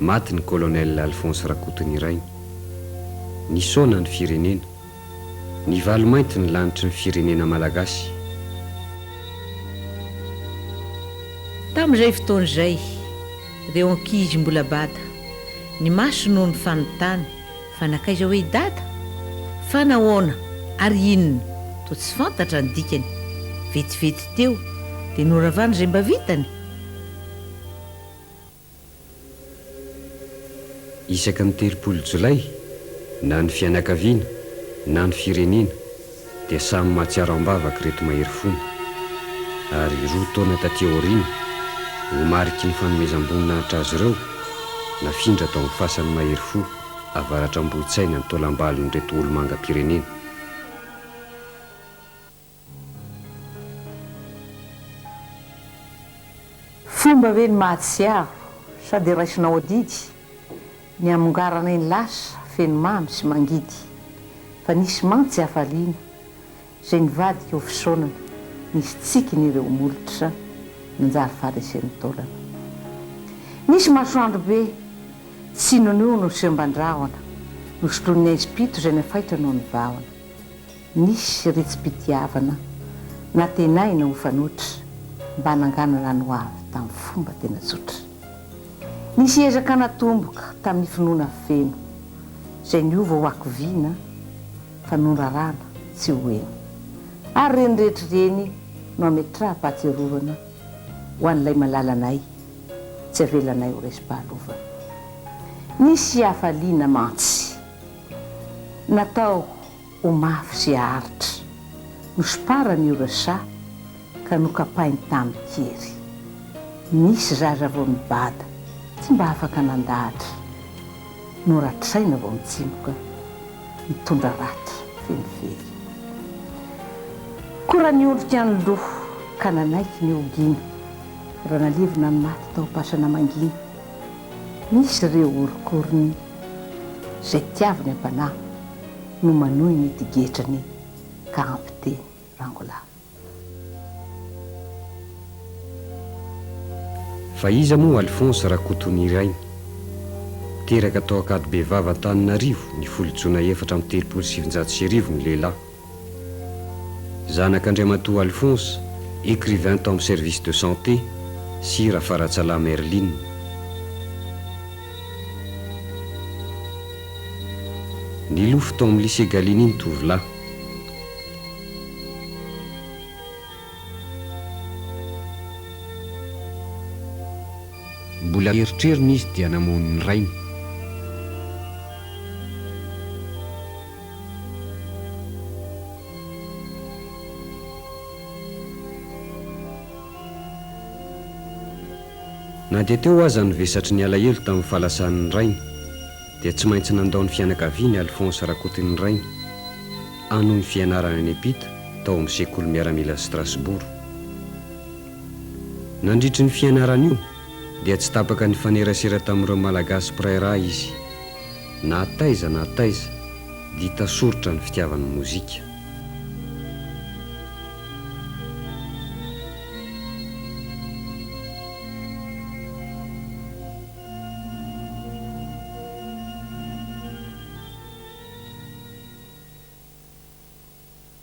Maty ny Colonel Alphonse Rakotonirainy. Nisaona ny firenena. Nivalo mainty ny lanitry ny firenena malagasy. Tamin'izay fotoana izay, reo ankizy mbola bata, ny maso no nifanontany fa nankaiza hoe i Dada? Fa nahoana ary inona? Toa tsy fantatra ny dikany. Vetivety teo dia noravana izay mba vitany. Isaky ny telopolo jolay, na ny fianakaviana, na ny firenena, dia samy mahatsiaro am-bavaka ireto mahery fony. Ary roa taona taty aoriana, ho mariky ny fanomezam-boninahitra azy ireo, nafindra tao amin'ny fasan'ny mahery fo avaratr' Ambohitsaina ny taolam-balon'ireto olomangam-pirenena. Fomba ve ny mahatsiaro sa dia raisinao adidy ny hamongaranay ny lasa feno mamy sy mangidy fa nisy mantsy hafaliana izay nivadika ho fisaonana nisy tsikiny ireo molotra nanjary faharesen'ny taolana nisy masoandro be tsinon'io nosemban-drahona nosoloin'ny aizim-pito izay nafaitra noho ny vahona Nisy ritsim-pitiavana nantenaina ho fanoitra mba hananganana ny ho avy tamin'ny fomba tena tsotra. Nisy ezaka natomboka tamin'ny finoana feno, izay niova ho hakiviana fa noraràna tsy ho eny. Ary ireny rehetra ireny no hametraham-pahatsiarovana ho an'ilay malala anay, tsy avelanay ho resim-pahalovana. Nisy hafaliana mantsy natao. ho mafy sy haharitra. Nosoparany io rsa ka nokapainy tamin'ny kery. Nisy zaza vao nibada, tsy mba afaka nandahatra. Noratraina vao mitsimoka, nitondra ratra feno fery. Kora niondrika any lo ka nanaiky ny ho gina, ra nalevina ny maty tao am-pasana mangina. Nisy re orok'orony, zay tiaviny am-panahy. no manohy ny digetrany ka ampy teny rangolahy. Fa iza moa Alphonse Rakotonirainy? Teraka tao Ankadibevava Antananarivo ny folo jona efatra amby telopolo sy sivinjato sy arivo ny lehilahy. Zanak' Andriamatoa Alphonse, écrivain tao amin'ny Service de Santé, sy Rafaratsalahy Merline. Nilofo tao amin'ny Lycée Gallieni ny tovolahy. Mbola eritreriny izy dia namono ny rainy. Na dia teo aza ny vesatry ny alahelo tamin'ny fahalasan'ny rainy dia tsy maintsy nandao ny fianakaviany Alphonse Rakotoninirainy hanohy ny fianarany any Epyt tao amin'ny sekoly miaramila Strasbourg. Nandritry ny fianarany io, dia tsy tapaka nifanerasera tamin'ireo Malagasy mpiray rà izy. Na taiza na taiza dia tasoritra ny fitiavany ny mozika.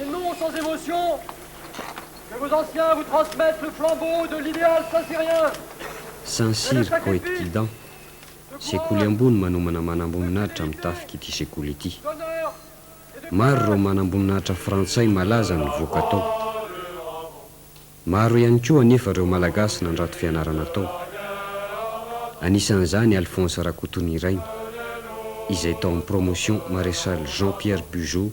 Et non sans émotion que vos anciens vous transmettent le flambeau de l'idéal saint-cyrien. Saint-Cyr Poète Guidant, sekoly ambony manomana manamboninahitra amin'ny tafik'ity sekoly ity. Maro ireo manamboninahitra frantsay malaza nivoaka tao. Maro ihany koa anefa ireo Malagasy nandrato fianarana tao. Anisan'izany Alphonse Rakotonirainy, izay tao amin'ny promotion Maréchal Jean-Pierre Bugeaud,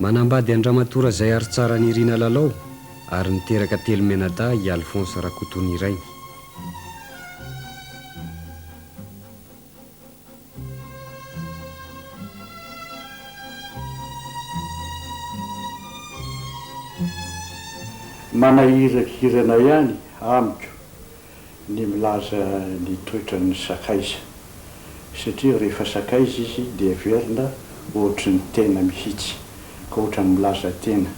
Manambady an-dRamatoa Razaiaritsara Nirina Lalao ary niteraka telo mianadahy i Alphonse Rakotonirainy. Manahirakirana ihany amiko. ny milaza ny toetran'ny sakaiza satria rehefa sakaiza izy dia heverina ohatry ny tena mihitsy ka ohatran'ny milaza tena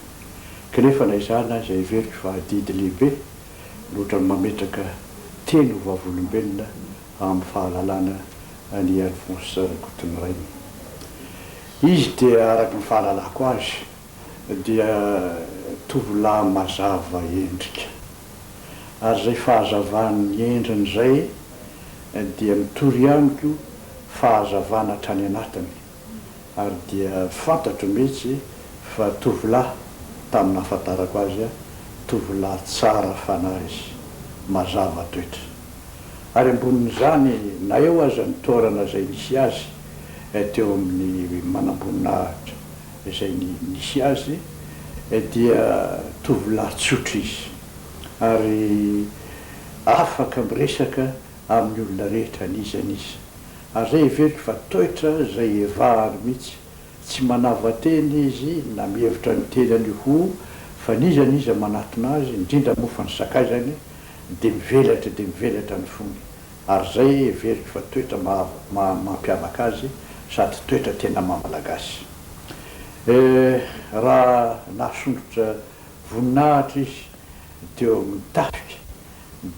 kanefa na izany aza heveriko fa adidy lehibe ny ohatran'ny mametraka teny ho vavolombelona amin'ny fahalalana an' i Alphonse Rakotonirainy. Izy dia araka ny fahalalako azy dia tovolahy mazava endrika. ary izay fahazavany ny endriny izay dia mitory ihany koa fahazavana hatrany anatiny ary dia fantatro mihitsy fa tovolahy tamin'ny nahafantarako azy tovolahy tsara fanahy izy, mazava toetra. Ary ambonin'izany na eo aza ny toerana izay nisy azy teo amin'ny manamboninahitra, izay nisy azy dia tovolahy tsotra izy ary afaka miresaka amin'ny olona rehetra n'iza n'iza ary izay heveriko fa toetra izay hevahany mihitsy, tsy manava-tena izy na mihevitra ny tenany ho fa n'iza n'iza manatona azy, indrindra moa fa ny sakaizany dia mivelatra dia mivelatra ny fony. ary izay heveriko fa toetra maha mampiavaka azy sady toetra tena maha malagasy. Eh, raha nahasondrotra voninahitra izy teo amin'ny tafika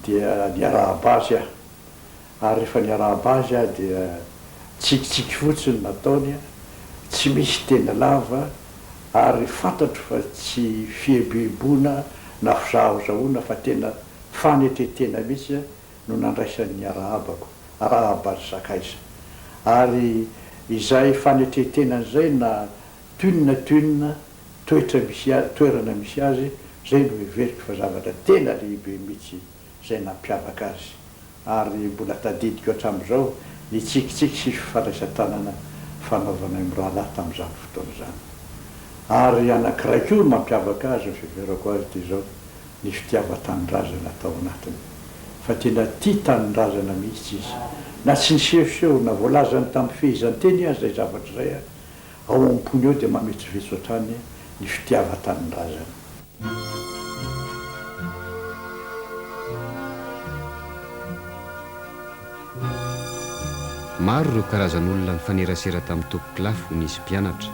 dia niarahaba azy aho, ary rehefa niarahaba azy aho dia tsikitsiky fotsiny no nataony, tsy misy teny lava, ary fantatro fa tsy fieboeboana na fizahaozahoana fa tena fanetren-tena mihitsy, no nandraisan'ny arahabako, Arahabazy Sakaiza. Ary izay fanetren-tenany izay na toin na toin toetra misy azy, toerana misy azy, izay no heveriko fa zavatra tena lehibe mihitsy izay nampiavaka azy. Ary mbola tadidiko hatramin'izao ny tsikitsiky sy fifandraisan-tanana fanaovanay mirahalahy tamin'izany fotoana izany. Ary anankiray koa mampiavaka azy ny fiheverako azy dia izao, ny fitiavan-tanindrazana tao anatiny fa tena tia tanindrazana mihitsy izy na tsy nisehoseho na voalazany tamin'ny fehezanteny aza izay zavatra izay, ao am-pony ao dia mametrovetro hatrany ny fitiavan-tanindrazana. Maro ireo karazan'olona nifanerasera tamin'ny tompon-kilafo nisy mpianatra.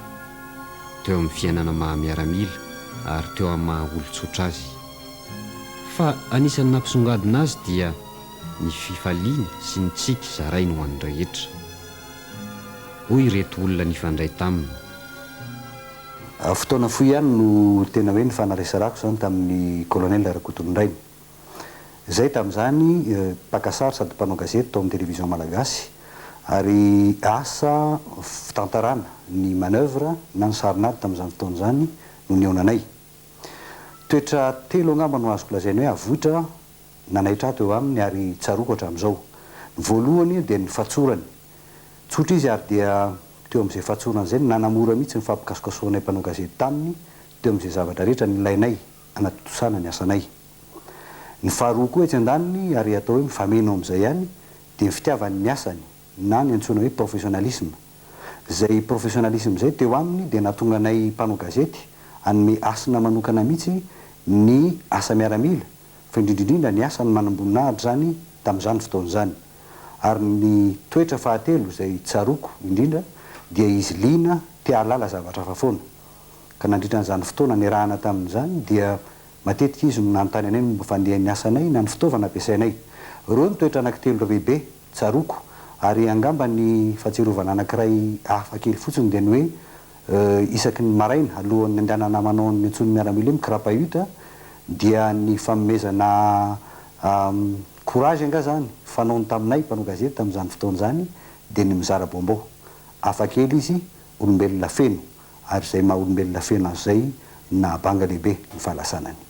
teo amin'ny fiainana maha miaramila ary teo amin'ny maha olon-tsotra azy. Fa anisan'ny nampisongadina azy dia ny fifaliana sy ny tsiky zarainy ho an'ny rehetra. Hoy ireto olona nifandray taminy. Fotoana fohy ihany no tena hoe nifanaresarahako izany tamin'ny Colonel Rakotonindray. Izay tamin'izany mpaka sary sady mpanao gazety tao amin'ny Télévision Malagasy ary asa fitantarana ny manœuvre na ny sarinady tamin'izany fotoana izany no nihaona anay. Toetra telo angamba no azoko lazaina hoe avoitra nanaitra ahy teo aminy ary tsaroako hatramin'izao. Ny voalohany dia ny fatsorany. Tsotra izy ary dia teo amin'izay fatsorany izay no nanamora mihitsy ny fampikasokasohanay mpanao gazety taminy teo amin'izay zavatra rehetra nilainay. hanatontosana ny asanay. Ny faharoa koa etsy andaniny ary atao hoe mifameno amin'izay ihany dia ny fitiavany ny asany na ny antsoina hoe professionnalisme. Izay professionnalisme izay teo aminy dia nahatonga anay mpanao gazety hanome hasina manokana mihitsy ny asa miaramila fa indrindra indrindra ny asany manamboninahitra izany tamin'izany fotoana izany. Ary ny toetra fahatelo izay tsaroako indrindra dia izy liana te hahalala zavatra hafa foana. ka nandritra an'izany fotoana niarahana taminy izany dia matetika izy no nanontany anay ny momba ny fandehan'ny asanay na ny fitaovana ampiasainay. Ireo no toetra anankitelo lehibe tsaroako ary angamba ny fahatsiarovana anankiray hafa kely fotsiny dia ny hoe isaky ny maraina alohan'ny handehanana manao ny antsoin'ny miaramila hoe mikrapayut dia ny fanomezana courage angaha izany fanaony taminay mpanao gazety tamin'izany fotoana izany dia ny mizara baomba ao. Hafa kely izy, olombelona feno. ary izay maha olombelona feno azy izay no nahabanga lehibe ny fahalasanany.